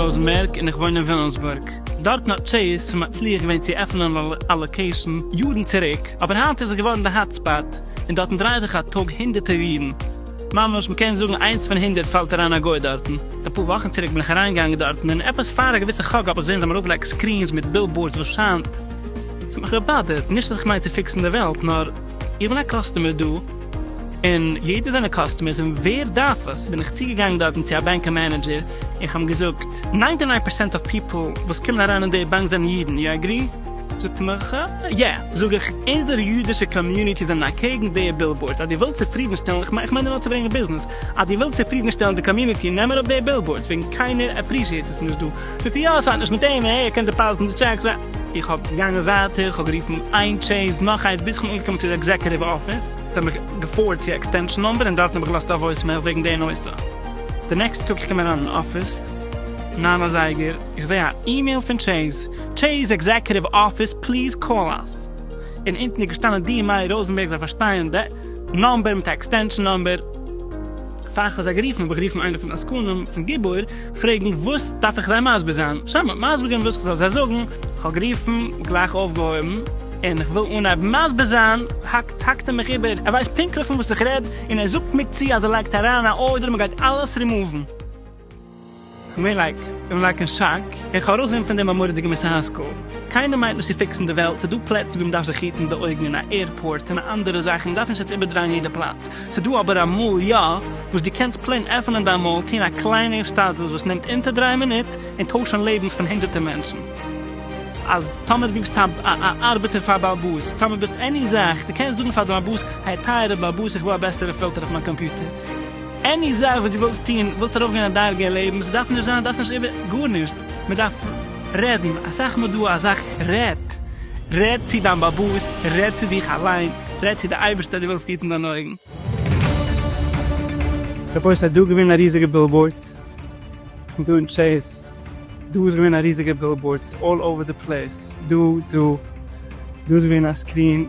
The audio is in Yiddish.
ראזענבערג און איך וואוין אין וויליאמסבורג. דארטן האט טשעיס שוין מצליח געווען צו עפענען א לאקעישאן יארן צוריק, אבער היינט איז עס געווארן די האט ספאט, און דארטן דרייען זיך א טאג הונדערטער אידן. ממש מ'קען זאגן איינס פון הונדערט פאלט אריין א גוי דארטן. אפאר וואכן צוריק בין איך אריינגעגאנגען דארטן און עפעס פאר א געוויסע חג האב איך געזען זיי האבן ארויפגעלייגט סקרינס מיט בילבאורדס וואס שיינט. ס'האט מיך געבאדערט, נישט אז איך מיין צו פיקסן די וועלט נאר איך בין א קאסטומער דא און יעדער זענען קאסטומערס און ווער דארף עס? בין איך צוגעגאנגען דארטן צו א בענקען מענעדזשער און כ'האב אים געזאגט. ניינטי ניין פערסענט אוו פיפל וואס קומען אריין אין די באנק זענען אידן, יו עגרי? זאגט מיך, יע, זאג איך, אונזער יודישע קאמיוניטי זענען אקעגן די בילבאורדס, אז דו ווילסט צופרידנשטעלן, איך מיין נאר צו ברענגן ביזנעס, אז דו ווילסט צופרידנשטעלן די קאמיוניטי נעם אראפ די בילבאורדס, וועגן קיינער עפרישיעט עס נישט דא. זאגט ער, יא, עס האט נישט מיט אים, ער קען דעפאזיטן די טשעקס ע. איך האב געגאנגען ווייטער, איך האב גערופן איין טשעיס, נאך איינס, ביז איך בין אנגעקומען צו די עקזעקוטיוו אפיס, זיי האבן מיך געפארווערד צו א עקסטענשאן נומבער און דארטן האב איך געלאזט א וואויסמעיל וועגן די נושא. די נעקסטע טאג איך קום אריין אין אפיס, ניין אזייגער, איך זע א אימעיל פון טשעיס, טשעיס עקזעקוטיוו אפיס פליז קאל אס. און אונטן איז געשטאנען די מאיר ראזענבערג זיי פארשטייען די נאמבער מיט א עקסטענשאן נאמבער. פאר כ'האב זיי גערופן האב איך גערופן איינער פון די עסקנים פון גיבור פרעגן וואס דארף איך זיי מסביר זיין, זיי האבן מיר מסביר געווען וואס כ'זאל זיי זאגן, כ'האב גערופן, גלייך אויפגעהויבן, און כ'וויל אנהייבן מסביר זיין, האקט האקט ער מיך איבער, ער ווייסט פונקטליך פון וואס איך רעד, און ער זאגט מיר צו אז ער לייגט אריין א ארדער און מ'גייט אלעס רימאוון. מיר לייק און לייקן שאק, איך האב ארויסגענומען פון דעם א מורא'דיגע מוסר השכל, קיינער מיינט נישט צו פיקסן די וועלט, ס'דא פלעצן ווי מ'דארף זיך היטן די אויגן אין א עירפארט און אנדערע זאכן, מ'דארף נישט יעצט איבערדרייען יעדע פלאץ, ס'דא אבער אמאל יא וואס דו קענסט פלעין עפענען דיין מויל, טון א קליינע השתדלות וואס נעמט אונטער דריי מינוט, און טוישן לעבנס פון הונדערטער מענטשן. אז טאמער דו ביסט א א ארבעטער פאר בעל באס, טאמער ביסט עני זאך, דו קענסט זאגן פאר די בעל באס, העי טייערע בעל באס איך וויל א בעסערע פילטער אויף מיין קאמפיוטער, עני זאך וואס דו ווילסט טון, ווילסט ארויפגיין א דרגה אין לעבן, ס'דארף נישט זיין, דארפסט נישט איבער, גארנישט, מען דארף רעדן, אסאך מאל דא אזאך, רעד, רעד צו דיין באבוס, רעד צו דיך אליינס, רעד צו די אייבערשטער, דו וועלסט היטן דיינע אויגן. כ'פארשטיי ס'איז דא געווען א ריזיגע בילבאורדס דא אין טשעיס, דא איז געווען א ריזיגע בילבאורדס אלל אווער די פלעיס, דא, דא, דא איז געווען א סקרין,